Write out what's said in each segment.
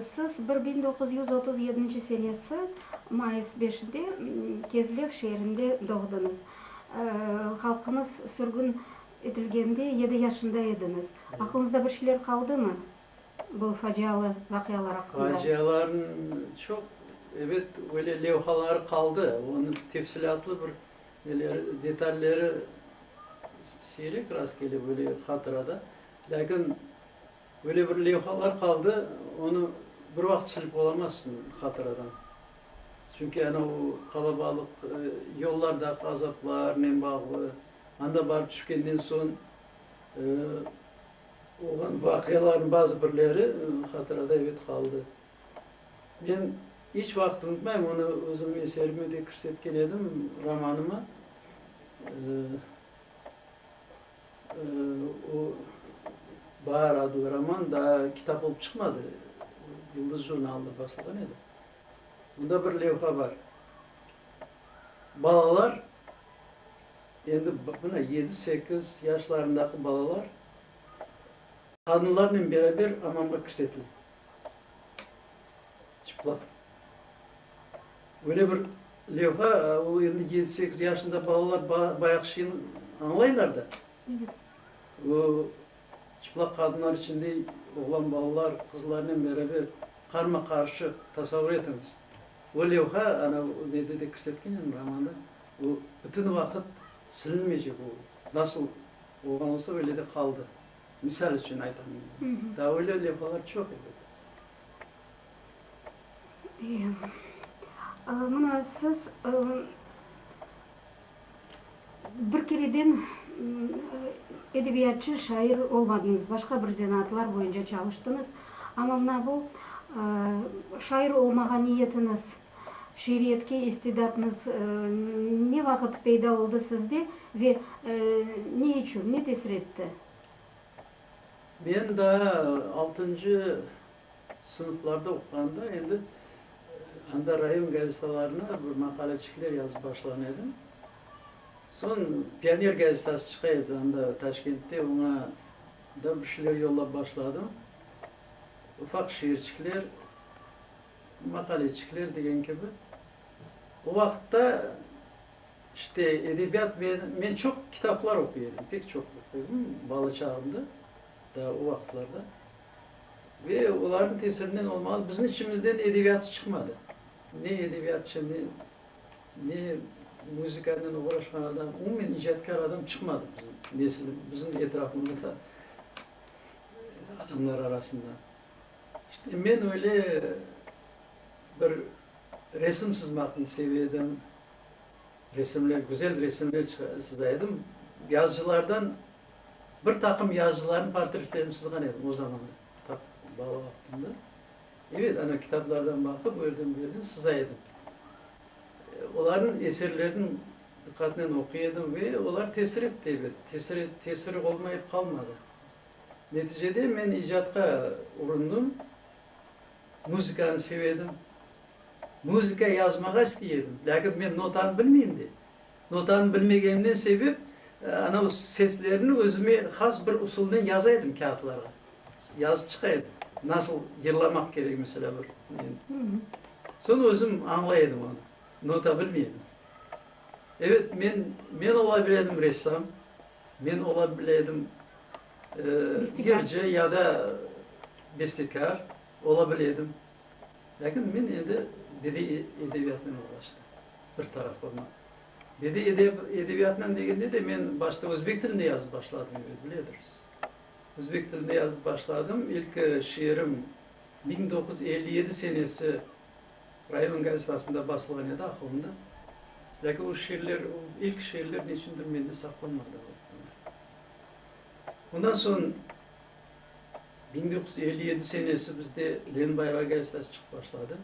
Siz bir biñ doquz yüz otuz yedinci senesi mayıs beşinde Kezlev şeerinde doğdıñız. Halqıñız sürgün etilgende yedi yaşında ediñiz. Aqlıñızda bir şeyler qaldımı bu facialı vaqialar aqqında? Facialarnıñ çoq, ebet, öyle levhaları qaldı. Onı tefsilâtlı bir neleri, detalleri siyrek rast kele böyle hatırada. Lâkin. Böyle bir levhalar qaldı, onı bir vaqıt silip olamazsıñ hatıradan. Çünki ana o qalabalıq yollardaki azaplarnen bağlı, anda barıp tüşkenden soñ olğan vaqialarnıñ bazı birleri hatırada ebet qaldı. Men iç vaqıt unutmayım, onı özümniñ eserime de kirsetken edim, romanıma. O, Baar adlı roman daa kitap olıp çıqmadı, Yuldız jurnalında baslağan edi. Onda bir levha bar, balalar, endi mına yedi, sekiz yaşlarındaki balalar qadınlarnen beraber ammamğa kirsetile. Çıplaq. Öyle bir levha, o endi yedi, sekiz yaşında balalar bayaq şeyni añlaylar da. O çıplaq qadınlar içinde oğlan balalar, qızlarnen beraber qarma-qarşı tasavvur etiñiz. O levha, ana nede de kirsetken edim, romanda, o bütün vaqıt silinmeycek, o nasıl olğan olsa, öyle de qaldı. Misal içün aytam indi. Daa öyle levhalar çoq edi. İyi. Mına siz bir kereden edebiyatçı, şair olmadıñız, başqa bir zenaatlar boyunca çalıştıñız. Amma mına bu şair olmağa niyetiñiz Şiiriyetke istidatnıız ne vaqıt peyda oldı sizde ve ne içün, ne tesir etti? Men daa altıncı sınıflarda oquğanda endi anda rayon gazetalarına bir maqaleçikler yazıp başlağan edim. Soñ Pioner gazetası çıqa edi anda Taşkentte, oña da bir şeyler yollap başladım. Ufaq şiirçikler. Maqaleçikler degen kibi. O vaqıtta işte edebiyat ve men çoq kitaplar oquy edim, pek çoq oquy edim bala çağımda, daa o vaqıtlarda. Ve olarnıñ tesirinen olmalı, bizim içimizden edebiyatçı çıqmadı. Ne edebiyatçı, ne ne muzıkanen oğraşqan adam, umumen icatkâr adam çıqmadı bizim nesil, bizim etrafımızda adamlar arasında. İşte, men öyle bir resim sızmaqnı seve edim, resimler, güzel resimler sıza edim. Yazıcılardan, bir taqım yazıcılarnıñ portretlerini sızğan edim o zaman, ta bala vaqtımda. Evet, ana, kitaplardan baqıp, o yerden, bu yerden sıza edim. Olarnıñ eserlerini diqqatnen oquy edim ve olar tesir etti, elbet, tesir, tesiri olmayıp qalmadı. Neticede men icatqa urundım, muzıkanı seve edim, muzıka yazmağa istey edim, lâkin men notanı bilmeyim de. Notanı bilmegenimden sebep, anav seslerni özüme has bir usulnen yaza edim kâğıtlarğa, yazıp çıqa edim, nasıl yırlamaq kerek, meselâ, bir neni. Soñ özüm añlay edim onı, nota bilmey edim. Evet, men, men ola bile edim ressam, men ola bile edim Yırcı ya da bestekâr ola bile edim, lâkin men endi bediy edebiyatnen oğraştım, bir tarafından. Bediy edebiyatnen degende de men başta özbek tilinde yazıp başladım, biledirs. Özbek tilinde yazıp başladım, ilki şiirim biñ doquz yüz elli yedi senesi rayonıñ gazetasında basılğan edi, Ahundı. Lâkin o şiirler, ilki şiirler neçündir mende saqlanmadı. Ondan soñ biñ dokuz yüz elli yedi senesi bizde Lenbayrağı gazetası çıqıp başladı.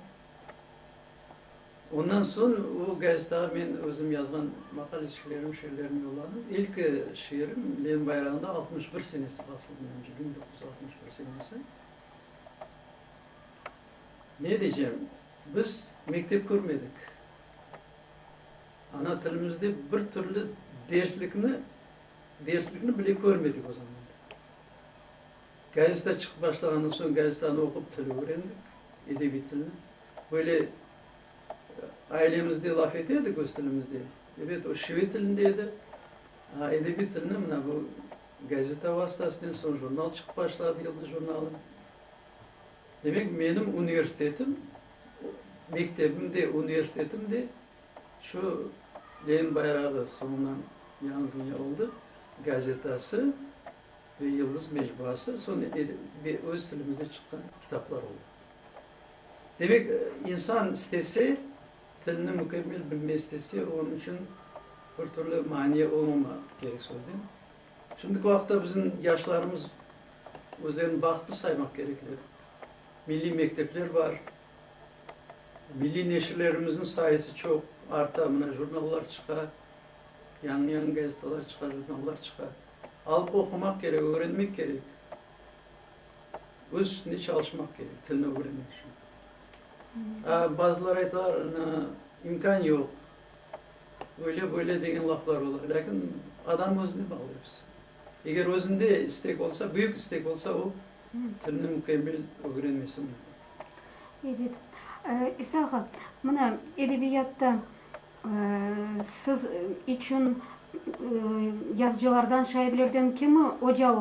Ondan soñ o gazetağa men özüm yazğan maqalecilerim, şiirlerim yollandı. İlki şiirim Lenbayrağında altmış bir senesi basıldı menimce, biñ dokuz yüz altmış bir senesi. Ne deycem, biz mektep körmedik. Ana tilimizde bir türlü derslikni Derslikni bile körmedik o zamanda. Gazeta çıqıp başlağandan soñ gazetanı oqup tili ögrendik, edebiy tilni. Böyle ailemizde laf ete edik öz tilimizde. Ebet, o şive tilinde edi. A edebiy tilni mına bu gazeta vastasınen, soñ jurnal çıqıp başladı, Yıldız jurnalı. Demek, menim universitetim, mektebim de, universitetim de Şu Lenin bayrağı soñundan Yañı dünya oldı gazetası ve Yıldız mecbuası, soñ ve öz tilimizde çıqqan kitaplar oldı. Demek, insan istese, tilini mükemmel bilmek istese, onıñ içün bir türlü mania olmama kerek sözden. Şimdiki vaqıtta bizim yaşlarımız özlerini bahıtlı saymaq kerekler. Milliy mektepler bar. Milliy neşirlerimizniñ sayısı çoq arta, mına jurnallar çıqa, yañı-yañı gazetalar çıqa, jurnallar çıqa. Alıp oqumaq kerek, ögrenmek kerek. Öz üstünde çalışmaq kerek, tilni ögrenmek içün. A, bazılar aytalar, ana, imkân yoq, öyle, böyle degen laflar ola. Lâkin adam özüne bağlı episi. Eger özünde istek olsa, büyük istek olsa, o, tilni mükemmel ögrenmesi mümkün. Ebet, İsa ağa, mına, edebiyatta siz içün yazıcılardan, şairlerden kimi oca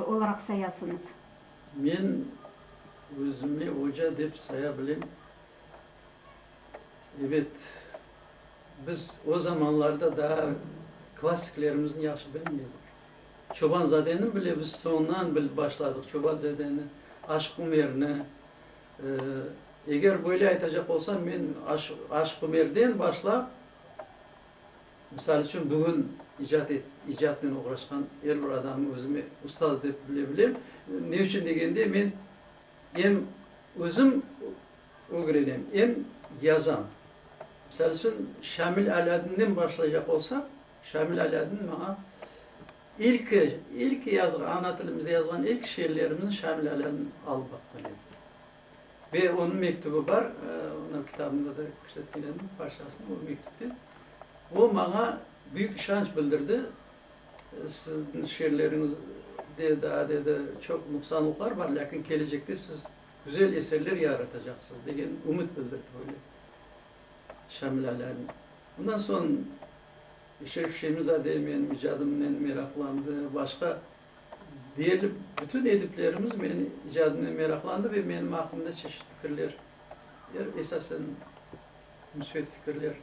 olaraq sayasıñız? Men özümi oca dep saya bilem. Ebet, biz o zamanlarda daa klassiklerimizni yahşı bilmeydik. Çobanzadeni bile biz soñdan bilip başladıq, Çobanzadeni, Aşıq Umerni. Eger böyle aytacaq olsam, men Aşıq Umerden başlap, misal içün, bugün icatnen oğraşqan er bir adamnı özüme ustaz dep bile bilem. Ne içün degende, men em özüm ögrenem, em yazam. Misal içün, Şamil Alâdinden başlaycaq olsaq. Şamil Alâdin maña ilki, ilki yazğan, ana tilimizde yazğan ilki şiirlerimni Şamil Alâdin alıp baqqan edi. Ve onıñ mektübi bar, onıñ kitabında da kirsetken edim parçasını, o mektüpte. O maña büyük işanç bildirdi, Siziñ şiirleriñizde daa, dedi, çoq nuqsanlıqlar bar, lâkin kelecekte siz güzel eserler yaratacaqsız, degen ümüt bildirdi böyle. Şamilalen. Ondan soñ Şef Şemizade menim icadımnen meraqlandı. Başqa deyerli bütün ediplerimiz menim icadımnen meraqlandı ve menim aqqımda çeşit fikirler, esasen müsbet fikirler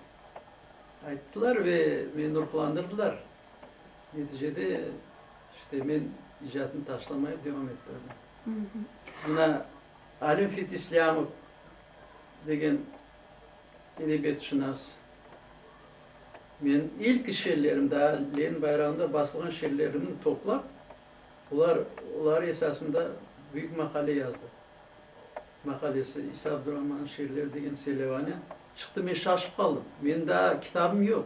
ayttılar ve meni ruhlandırdılar. Neticede, işte, men icadnı taşlamayıp devam ettirdim. Mına Alim Fit İslâmov degen edebiyatşınas, Men ilk şiirlerimni, daa Lenin bayrağında basılğan şiirlerimni toplap, olar oları esasında büyük maqale yazdı. Maqalesi, İsa Abdurahman'ın şiirleri degen selevane çıqtı. Men şaşıp qaldım. Menim daa kitabım yoq.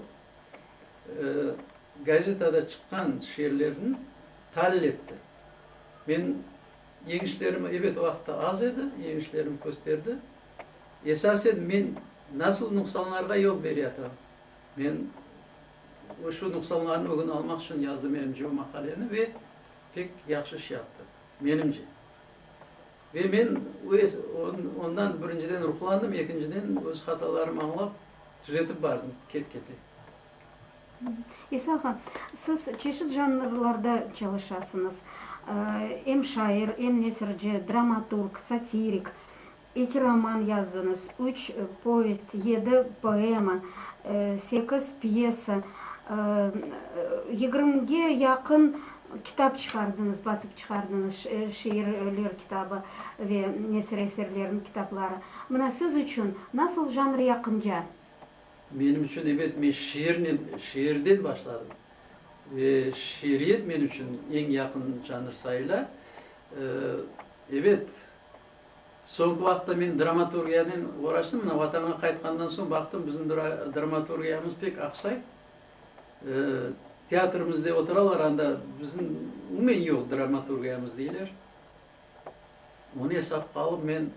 Gazetada çıqqan şiirlerini talil etti. Men Yeñişlerim, ebet, vaqıtı az edi, yeñişlerim kösterdi. Esasen men nasıl nuqsanlarğa yol beryatırım? Men şu nuqsanlarnı ögün almaq içün yazdım, menimce, bu maqaleni ve pek yahşı iş yaptı, menimce. Ve men ondan birinciden ruhlandım, ekinciden öz hatalarımı añlap, tüzetip bardım ket-kete. İsa ağa, siz çeşit janrlarda çalışasıñız, em şair, em nesirci, dramaturg, satirik. Eki roman yazdıñız, üç povest, yedi poema, sekiz pyesa, yigirmige yaqın kitap çıqardıñız, basıp çıqardıñız, şiirler kitabı ve nesir eserleriniñ kitapları. Mına siz içün nasıl janr yaqınca? Menim içün, ebet, men şiirnen, şiirden başladım. Ve şiiriyet men içün eñ yaqın janr sayıla. Ebet, soñki vaqıtta men dramaturgiyanen uğraştım. Mına Vatanğa qaytqandan soñ baqtım, bizim dramaturgiyamız pek aqsay. Teatrımızda oturalar, anda bizim umumen yoq dramaturgiyamız, deyler. Onı esapqa alıp, men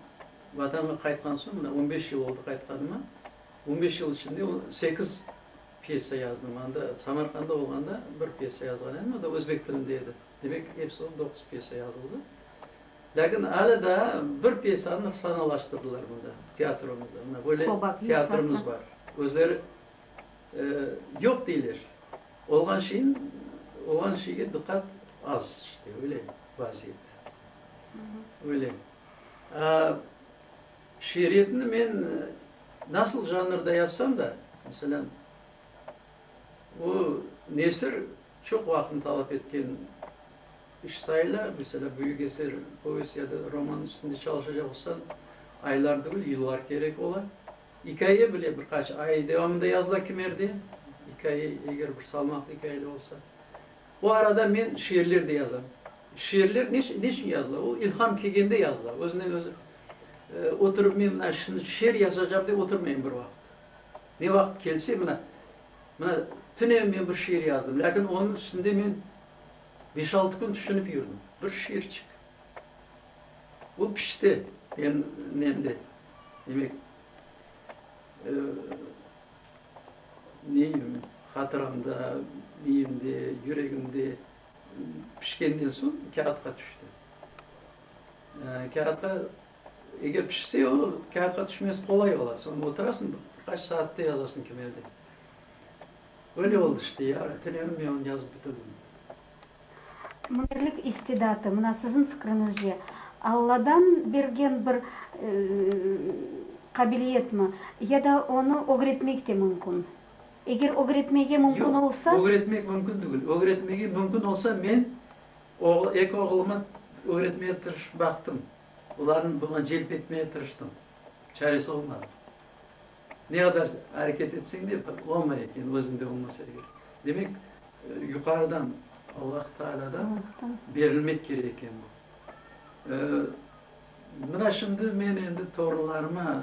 Vatanğa qaytqan soñ, mına on beş yıl oldı qaytqanıma, on beş yıl içinde sekiz pyesa yazdım. Anda Samarqanda olğanda bir pyesa yazğan edim, o da özbek tilinde edi. Demek, episi olıp doquz pyesa yazıldı. Lâkin alâ daa bir pyesanı sahnalaştırdılar mında, teatrımızda. Mına böyle teatrımız bar. Özleri yoq deyler. Olğan şeyin, olğan şeyge diqqat az işte, öyle vaziyet. Öyle. Şiiriyetni men nasıl janrda yazsam da, meselem, o nesir çoq vaqıtnı talap etken iş sayıla. Meselem, büyük eser, povest ya da roman üstünde çalışacaq olsañ, aylar degil, yıllar kerek ola. İkaye bile bir qaç ay devamında yazıla kimerde, ikaye eger bir salmaqlı ikayeler olsa. Bu arada men şiirler de yazam. Şiirler ne ne içün yazıla? O ilham kelgende yazıla, özünden özü. Oturıp men mına şimdi şiir yazacağım dep oturmayım bir vaqıt. Ne vaqıt kelse mına, mına tünen men bir şiir yazdım, lâkin onıñ üstünde men beş-altı kün tüşünip yürdim. Bir şiirçik. O pişti mende. Demek, neyim, hatıramda, miyimde, yüregimde pişkenden soñ kâğıtqa tüşti. Kâğıtqa, eger pişse, o kâğıtqa tüşmesi qolay ola. Soñ oturasıñ, bir qaç saatte yazasıñ kimedi. Böyle oldı işte, yarı tünevin men onı yazıp bitirdim. Münerlik istidatı, mına siziñ fikriñizce, Alladan bergen bir qabiliyetmi ya da onı ögretmek de mümkün? Eger ögretmege mümkün olsa. Yoq, ögretmek mümkün degil. Ögretmege mümkün olsa, men eki oğluma ögretmege tırışıp baqtım. Olarnı buña celp etmege tırıştım. Çaresi olmadı. Ne qadar areket etseñ de, bir olmay eken, özünde olmasa eger. Demek, yuqarıdan, Allah Taalâdan berilmek kerek eken bu. Mına şimdi men endi torunlarıma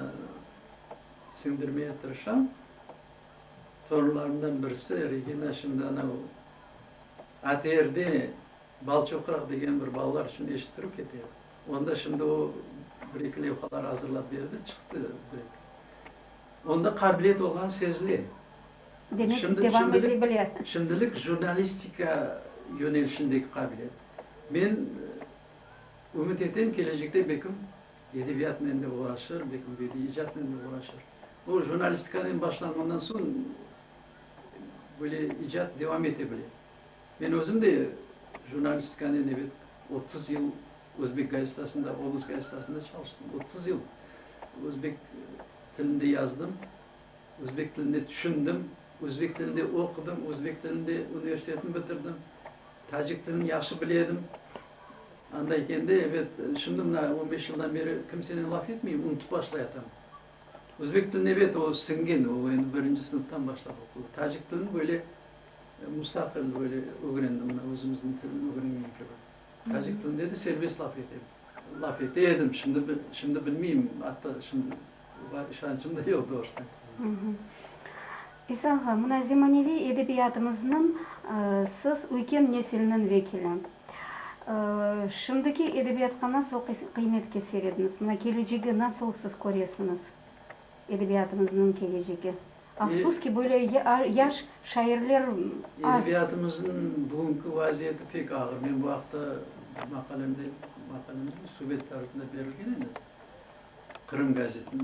siñdirmege tırışam. Torunlarımdan birisi, Regina, şimdi anau ATR-de, Balçoqraq degen bir balalar içün eşittirüv kete. Onda şimdi o bir-eki levhalar azırlap berdi, çıqtı direkt. Onda qabiliyet olğan sezile. Demek, devam ete bile. Şimdilik jurnalistika yönelişindeki qabiliyet. Men ümüt etem, kelecekte belkim edebiyatnen de uğraşır, belkim bediiy icatnen de uğraşır. O jurnalistikanen başlanğandan soñ böyle icat devam ete bile. Men özüm de jurnalistikanen, ebet, otuz yıl Özbek gazetasında, Oblast gazetasında çalıştım. Otuz yıl özbek tilinde yazdım, özbek tiline tüşündim, özbek tilinde oqudım, özbek tilinde universitetni bitirdim, tacik tilini yahşı bile edim. Anda ekende, ebet, şimdi mına on beş yıldan beri kimsenen laf etmeyim, unutıp başlayatam. Özbek tilini, ebet, o siñgen, o endi birinci sınıftan başlap oqudı. Tacik tilini böyle, Mustaqil böyle ögrendim mına özümizniñ tilni ögrengen kibi. Tacik tilinde de serbest laf ete laf ete edim, şimdi bil şimdi bilmeyim, atta şimdi var işancım da yoq doğrusu. İsa ağa, mına zemaneviy edebiyatımıznıñ siz üyken nesilniñ vekili. Şimdiki edebiyatqa nasıl qıymetke serediñiz? Mına kelecegi nasıl siz köresiñiz, edebiyatımıznıñ kelecegi? Afsus ki, böyle yaş şairler az. Edebiyatımıznıñ bugünki vaziyeti pek ağır. Men bu aqta maqalemde, maqalemniñ subet tarifinde berilgen edi, Qırım gazetinde.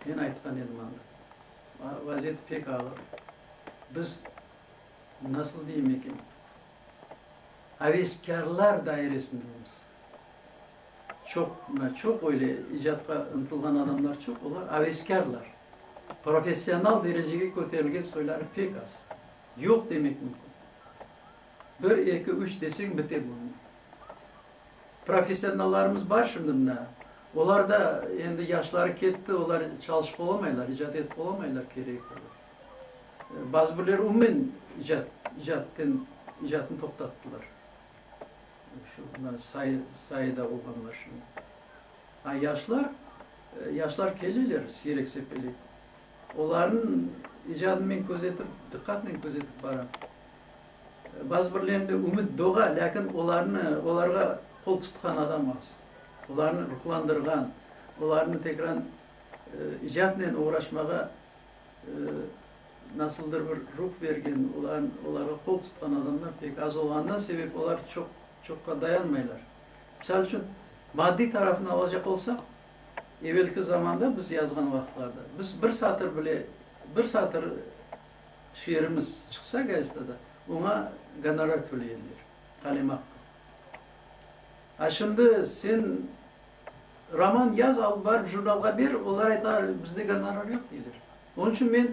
Men aytqan edim anda, vaziyeti pek ağır. Biz, nasıl deyim eken, aveskârlar dairesindemiz. Çoq, mına, çoq öyle icatqa ıntılğan adamlar çoq, olar aveskârlar. Professional derecege köterilgen soyları pek az. Yoq demek mümkün. Bir, eki, üç deseñ bite bunıñ. Professionallarımız bar şimdi mına, olar da endi yaşları ketti, olar çalışıp olamaylar, icat etip olamaylar keregi kadar. Bazı birler umumen icat, icatten, icatını toqtattılar. Şu ana sayıda olğan maşina. A yaşlar, yaşlar keleler siyreksepelek. Olarnıñ icadını men közetip, diqqatnen közetip baram. Bazı birlerinde ümüt doğa, lâkin olarnı, olarğa qol tutqan adam az. Olarnı ruhlandırğan, olarnı tekrar icatnen oğraşmağa Nasıldır bir ruh bergen, olarğa qol tutqan adamlar pek az olğanından, sebep olar çoqqa dayanmaylar. Misal içün, maddiy tarafını alacaq olsaq, evelki zamanda biz yazğan vaqıtlarda, biz bir satır bile, bir satır şiirimiz çıqsa gazetada, oña gonorar töleyenler, qalemaqqı. A şimdi sen Roman yaz, alıp barıp jurnalğa ber, olar ayta, bizde gonorar yoq, deyler. Onıñ içün men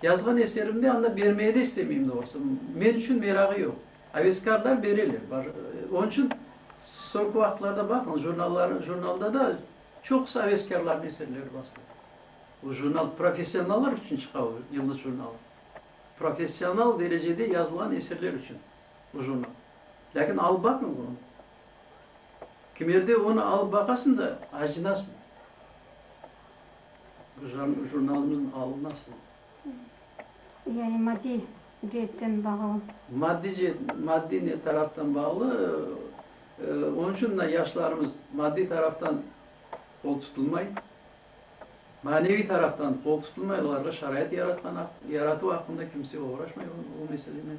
yazğan eserimni anda bermege de istemeyim doğrusı. Men içün merağı yoq. Aveskarlar bereler. Onıñ içün soñki vaqıtlarda baqıñız, jurnallar, jurnalda da çoqusı aveskarlarnıñ eserleri basıla. O jurnal professionallar içün çıqa, o Yıldız jurnalı. Professional derecede yazılğan eserler içün o jurnal. Lâkin alıp baqıñız onı. Kimerde onı alıp baqasıñ da, acınasıñ. Bu jurnalımıznıñ alınasıñ. Yani maddiy ceetten bağlı. Maddiy ceet, maddiy ne taraftan bağlı. Onıñ içün mına yaşlarımız maddiy taraftan qol tutulmay, maneviy taraftan qol tutulmay, olarğa şarait yaratqan, yaratıu aqqında kimse oğraşmay o meselenen.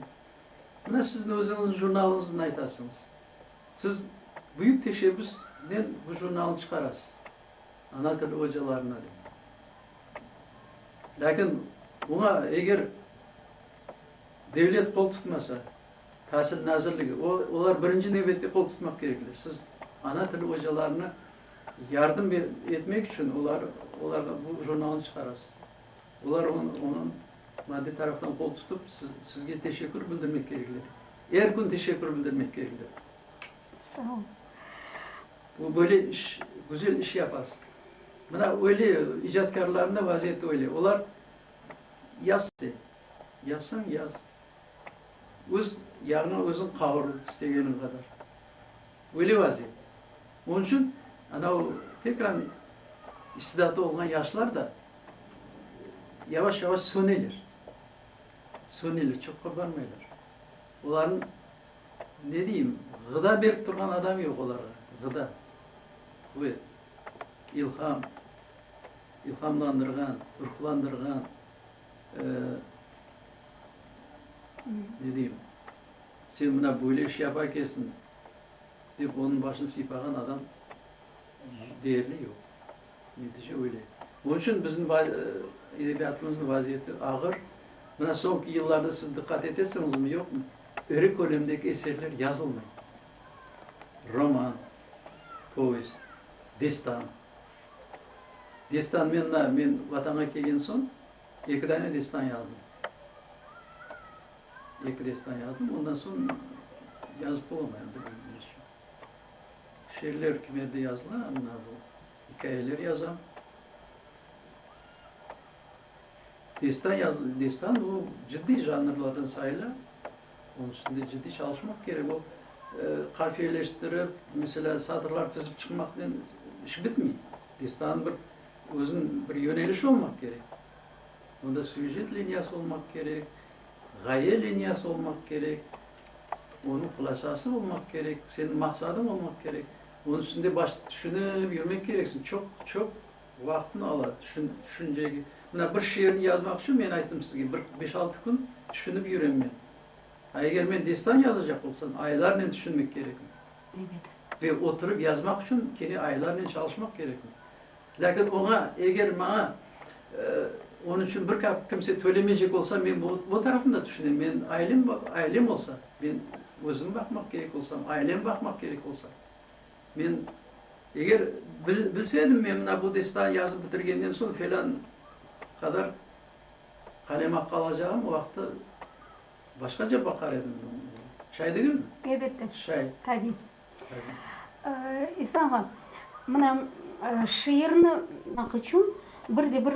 Mına sizni özüñiz jurnalınızdan aytasıñız. Siz büyük teşebbüsnen bu jurnalnı çıqarasız. Ana tili ocalarına dep. Lâkin oña eger devlet qol tutmasa, Tasil nazirligi, o, olar birinci nevbette qol tutmaq kerekler. Siz ana tili ocalarına yardım etmek içün olar, olarğa bu jurnalnı çıqarasız. Olar onı, onı Maddiy taraftan qol tutıp, sizge teşekkür bildirmek kerekler. Er kün teşekkür bildirmek kerekler. Sağ ol. Bu böyle iş, güzel iş yapasız. Mına öyle, icatkarlarnıñ vaziyeti öyle. Olar yaz istey. Yazsın, yaz. Öz yağnı özüñ qavur istegeniñ qadar. Öyle vaziyet. Onıñ içün, ana o, tekrar istidatı olğan yaşlar da yavaş-yavaş söneler. Söneler, çoq qurbanmaylar. Olarnıñ, ne deyim, ğıda berip turğan adamı yoq olarğa, ğıda, quvet, ilham, ilhamlandırğan, ruhlandırğan, ne deyim, sen mına böyle iş yapa ekensiñ, dep onıñ başını sıypağan adam deyerli yoq. Netice öyle. Onıñ içün bizim edebiyatımıznıñ vaziyeti ağır. Mına soñki yıllarda siz diqqat etesiñizmi, yoqmı, iri kölemdeki eserler yazılmay. Roman, povest, destan. Destan men mına, men Vatanğa kelgen soñ eki dane destan yazdım. Eki destan yazdım, ondan soñ yazıp olamay, bilmiñ, neşün. Şiirler kim edi yazıla, mına bu ikâyeler yazam. Destan yaz, destan o ciddiy janrlardan sayıla. Onıñ içinde ciddiy çalışmaq kerek. O qafiyeleştirip, mesela satırlar tizip çıqmaqnen iş bitmey. Destanıñ bir özüniñ bir yönelişi olmaq kerek. Onda süjet liniyası olmaq kerek, ğaye liniyası olmaq kerek. Onıñ hulâsası olmaq kerek, seniñ maqsadıñ olmaq kerek. Onıñ üstünde baş tüşünip yürmek kereksiñ. Çoq, çoq vaqıtnı ala tüşün, tüşüncege. Mına, bir şiirni yazmaq içün, men ayttım sizge, bir beş-altı kün tüşünip yürem men. A eger men destan yazacaq olsam, aylarnen tüşünmek kerekmi? Elbet. Ve oturıp yazmaq içün kene aylarnen çalışmaq kerekmi? Lâkin oña, eger maña onıñ içün bir kap kimse tölemeycek olsa, men bu tarafını da tüşünem. Men ailem, ailem olsa, men özümi baqmaq kerek olsam, ailemi baqmaq kerek olsa, men eger bilse edim, men mına bu destanı yazıp bitirgenden soñ felân qadar qalem aqqı alacağım, o vaqıtta başqaca baqar edim. Şay degilmi? Elbette. Şay. Tabiy. İsa ağa, mına, şiirni maq içün bir de bir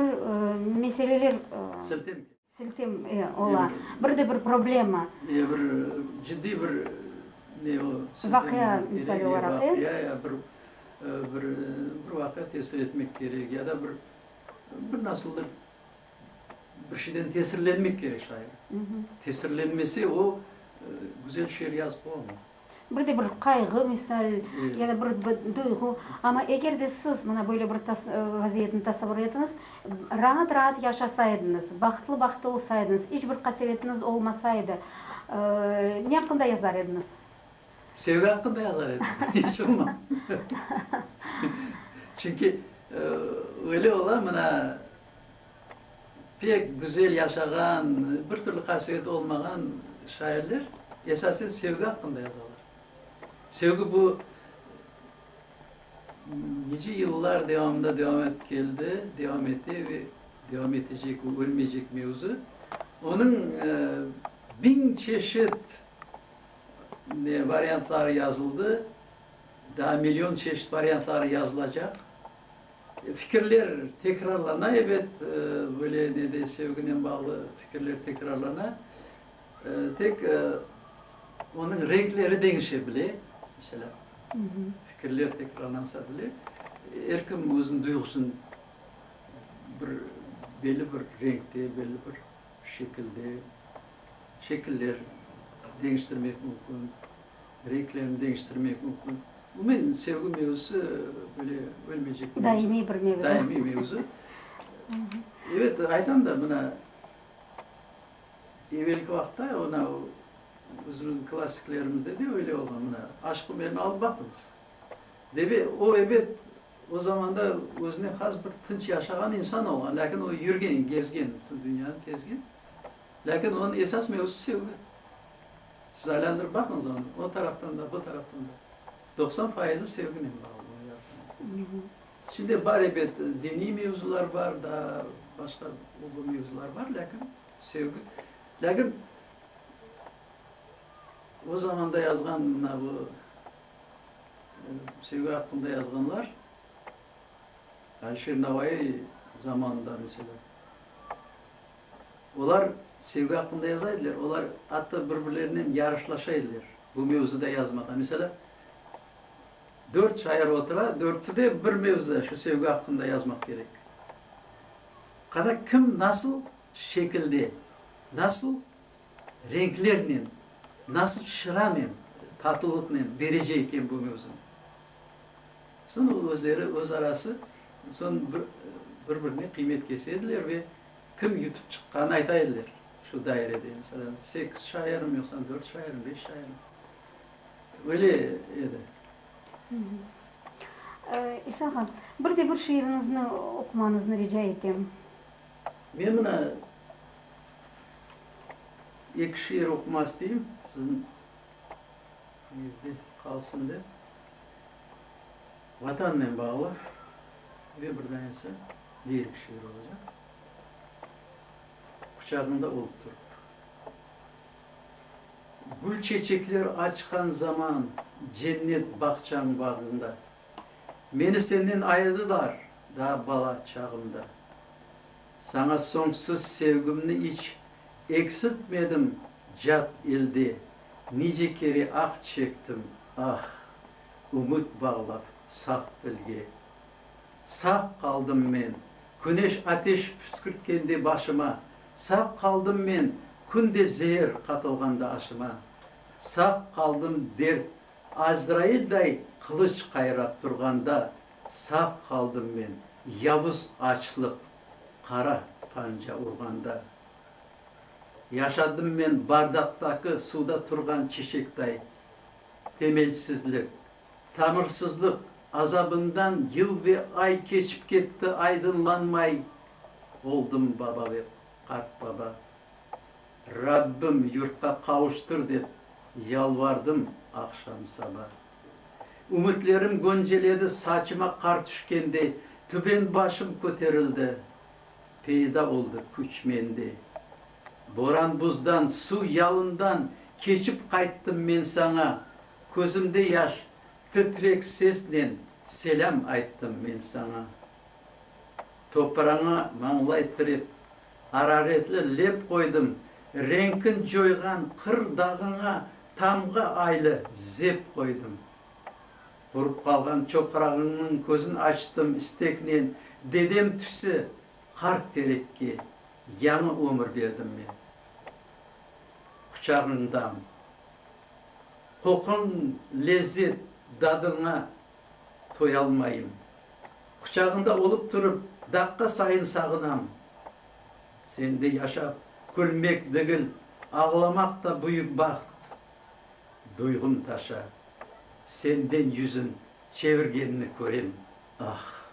meseleler, siltem, siltem ola, bir de bir problema, ya bir ciddiy bir ne o, vaqia misali olaraq, e, vaqia ya bir, bir vaqia tesir etmek kerek, ya da bir, bir nasıldır, bir şeyden tesirlenmek kerek şair. Tesirlenmese o, güzel şiir yazıp olamay. Bir de bir qayğı misal, ya da bir duyğu. Amma eger de siz mına böyle bir vaziyetni tasavur etiñiz, raat-raat yaşasa ediñiz, bahtlı-bahtlı olsa ediñiz, iç bir qasevetiniz olmasa edi, ne aqqında yazar ediñiz? Sevgi aqqında yazar edim, iç olma. Çünki öyle ola, mına. Pek güzel yaşağan, bir türlü qasiyeti olmağan şairler esasen sevgi aqqında yazalar. Sevgi bu nice yıllar devamında devam etip keldi, devam ete ve devam etecek, o ölmeycek mevzu. Onıñ biñ çeşit varyantları yazıldı, daa million çeşit varyantları yazılacaq. Fikirler tekrarlana, ebet, böyle ne de sevginen bağlı fikirler tekrarlana. Tek onıñ renkleri deñişe bile. Mesela, fikirler tekrarlansa bile, er kim özüniñ duyğusın bir belli bir renkte, belli bir şekilde, şekiller deñiştirmek mümkün. Renklerini deñiştirmek mümkün. Umumen, sevgi mevzusı böyle ölmeycek mevzu. Daimiy bir mevzu. Daimiy mevzu. Evet, aytam da, mına, evelki vaqıtta ona özümüzniñ klassiklerimizde de öyle olğan, mına, Aşk Umerni alıp baqıñız. Deve, o, ebet, o zamanda özüne has bir tınç yaşağan insan olğan, lâkin o yürgen, gezgen, bütün dünyanı kezgen. Lâkin onıñ esas mevzusı sevgi. Siz aylandırıp baqıñız onı, o taraftan da, bu taraftan da. Doqsan fayızı sevginen bağlı onı yazdığıñız. İçinde bar ebet, diniy mevzular bar, daa başqa o-bu mevzular bar, lâkin sevgi. Lâkin o zamanda yazğan mına bu sevgi aqqında yazğanlar, Alişir Navaiy zamanında, meselâ, Olar sevgi aqqında yaza ediler, olar atta bir-birlerinen yarışlaşa ediler bu mevzuda yazmağa. Meselâ, dört şair otura, dörtüsi de bir mevzuda, şu sevgi aqqında yazmaq kerek. Qara, kim nasıl şekilde, nasıl renklernen, nasıl çıranen, tatlılıqnen berece eken bu mevzunı. Soñ özleri, öz arası soñ bir-birine qıymet kese ediler ve Kim yutıp çıqqanı ayta ediler şu dairede, meselâ, sekiz şairmi, yoqsa dört şairmi, beş şairmi, öyle edi. İsa ağa, bir de bir şiiriñizni oqumañıznı rica etem. Men mına eki şiir oqumaq isteyim, siziñ eñizde qalsın dep. Vatannen bağlı ve bir da ise diyer bir şiir olacaq. Quçağında olıp turıp. Gül çeçekler açqan zaman cennet bağçañ bağında, Meni senden ayırdılar daa bala çağımda. Saña soñsuz sevgimni iç eksiltmedim cat elde, Nice kere ah çektim, ah! Ümüt bağlap saf dilge. Sağ qaldım men, küneş ateş püskürtkende başıma, Sağ qaldım men, kün de zeer qatılğanda aşıma, Sağ qaldım dert Azrailday qılıç qayrap turğanda, Sağ qaldım men, yavuz açlıq qara panca urğanda. Yaşadım men bardaqtaki suvda turğan çiçekday. Temelsizlik, tamırsızlıq azabından yıl ve ay keçip ketti, aydınlanmay oldım, baba ve qart baba. Rabbim, yurtqa qavuştır dep yalvardım aqşam-saba. Ümütlerim gönceledi, saçıma qar tüşkendey, tüben başım köterildi, peyda oldı küç mende. Boran-buzdan, suv yalından keçip qayttım men saña, Közümde yaş, titrek sesnen selâm ayttım men saña. Topraña mañlay tirep, araretli lep qoydım, Reñkin coyğan qır dağıña tamğa aylı zep qoydım. Qurup qalğan çoqrağıñnıñ közün açtım isteknen, Dedem tüsi qart terekke Yañı ömür berdim men quçağıñdan. Qoquñ lezzet dadıña toyalmayım. Quçağıñda olıp turıp daqqa sayın sağınam. Sende yaşap külmek degil, ağlamaq da büyük baht. Duyğum taşa, senden yüzün çevirgenni körem. Ah!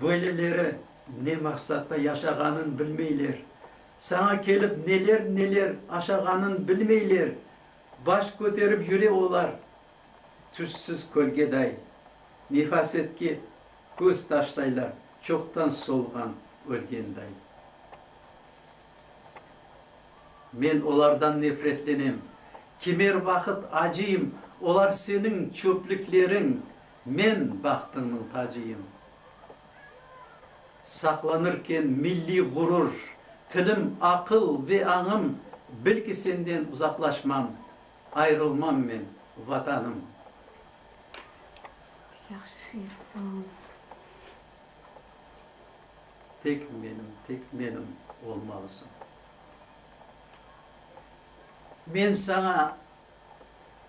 Böyleleri ne maqsatla yaşağanın bilmeyler. Saña kelip neler-neler aşağanın bilmeyler, baş köterip yüre olar, tüşsüz kölgeday, nefasetke köz taşlaylar, çoqtan solğan, ölgenday. Men olardan nefretlenem. Kimer vaqıt acıyım, olar seniñ çöplükleriñ, Men bahtımnıñ tacıyım. Saqlanırken milliy ğurur, tilim, aqıl ve añım, bil ki, senden uzaqlaşmam, ayrılmam men, Vatanım. Yahşı şiir, sağ olıñız. Tek menim, tek menim olmalısıñ. Men saña.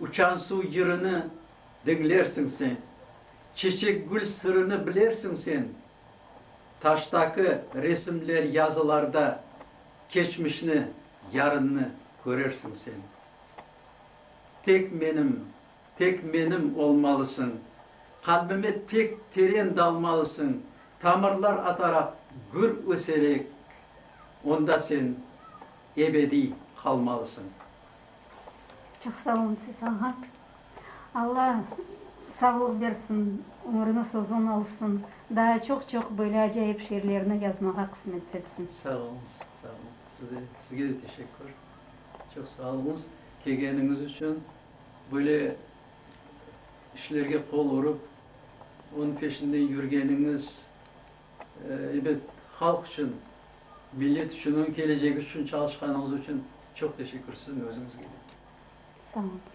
Uçan suv yırını diñlersiñ sen, Çeçek-gül sırını bilersiñ sen, Taştaki resimler yazılarda Keçmişni, yarınnı körersiñ sen. Tek menim, tek menim olmalısıñ, Qalbime pek teren dalmalısıñ, Tamırlar ataraq gür öserek, Onda sen ebediy qalmalısıñ. Çoq sağ olun siz ağa. Alla sağlıq bersin, ömrüniz uzun olsun, daa çoq-çoq böyle acayip şiirlerni yazmağa qısmet etsin. Sağ oluñız, sağ oluñ. Siz de, sizge de teşekkür. Çoq sağ oluñız kelgeniñiz içün, böyle işlerge qol urıp, onıñ peşinden yürgeniñiz, Elbet, halq içün, millet içün, onıñ kelecegi içün çalışqanıñız içün çoq teşekkür siziñ özüñizge de. Sağ olunız.